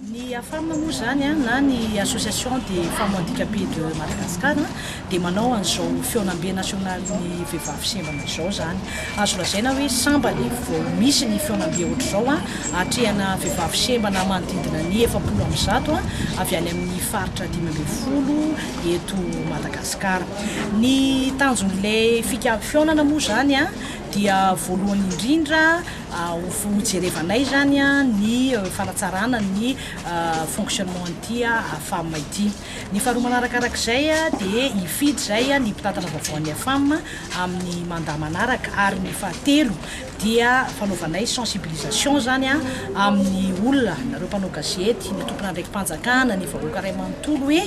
Ny AFAM moa izany na ny Association des Femmes Handicapées de Madagascar dia manao an'izao Fihaonambe Nasionalin'ny Vehivavy Sembana izao izany. Azo lazaina hoe sambany vao misy ny fihaonambe ohatr'izao atrehana vehivavy sembana manodidina ny efapolo amin'ny zato avy any amin'ny faritra dimy ambin'ny folo eto Madagasikara. Ny tanjon'ilay fika- fihaonana moa izany dia voalohany indrindra ho hojerevanay izany ny fanatsarana ny fonctionnement an'ity Femme ity. Ny faharoa manarakarak'izay dia hifidy izay ny mpitantana vaovao an'ny Afam amin'ny mandat manaraka ary ny fahatelo dia fanaovanay sensibilisation izany amin'ny olona, nareo mpanao gazety, ny tompon'andraiki-panjakana, ny vahoaka iray manontolo hoe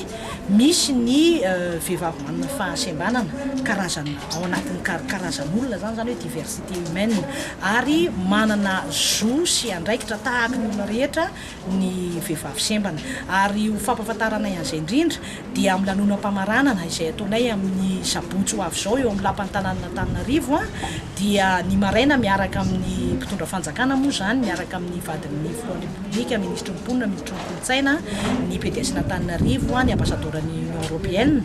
misy ny vehivavy manana fahasembanana, karazana ao anatin'ny karazan'olona izany, izany hoe diversité humaine ary manana zo sy andraikitra tahaka ny olona rehetra. ny vehivavy sembana. Ary ho fampahafantaranay an'izay indrindra dia amin'ny lanonam-pamaranana izay ataonay amin'ny sabotsy ho avy izao eo amin'ny lapan'ny tanànan'Antananarivo dia ny maraina miaraka amin'ny mpitondra fanjakana moa izany miaraka amin'ny vadin'ny filohan'ny Repoblika, minisitry ny mponina, minisitry ny kolontsaina, ny PDSn'Antananarivo, ny ambasadaoran'ny Union Europeenne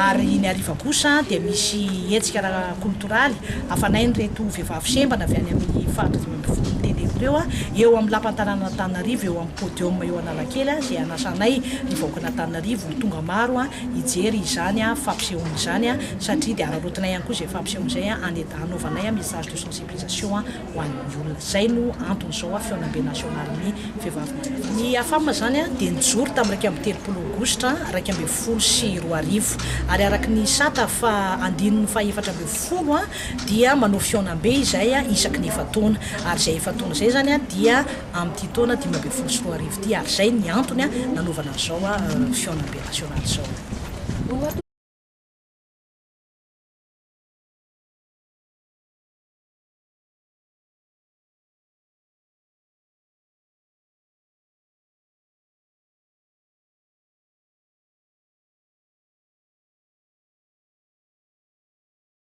ary ny hariva kosa dia misy hetsika ara-koltoraly hafanay an'ireto vehivavy sembana avy any amin'ny faritry ny. mpivory ny tele ireo eo amin'ny lapan'ny tanànan'Antananarivo eo amin'ny podium eo Analakely izay hanasanay ny vahoakan'Antananarivo ho tonga maro hijery izany fampisehoana izany satria dia araraotinay ihany koa izay fampisehoana izay hanaovanay message de sensibilisation ho an'ny olona. Izay no antony izao fihaonambe nasionalin'ny vehivavy malagasy. Ny Afam izany dia nijoro tamin'ny iraika amby telopolo aogositra iraika ambin'ny folo sy roa arivo ary araka ny sata faha andininy faha efatra ambin'ny folo dia manao fihaonambe izay isaky ny efa-taona, ary izay efa-taona izay izany dia amin'ity taona dimy ambin'ny folo sy roa arivo ity, ary izay ny antony nanaovana an'izao fihaonambe nasionaly izao.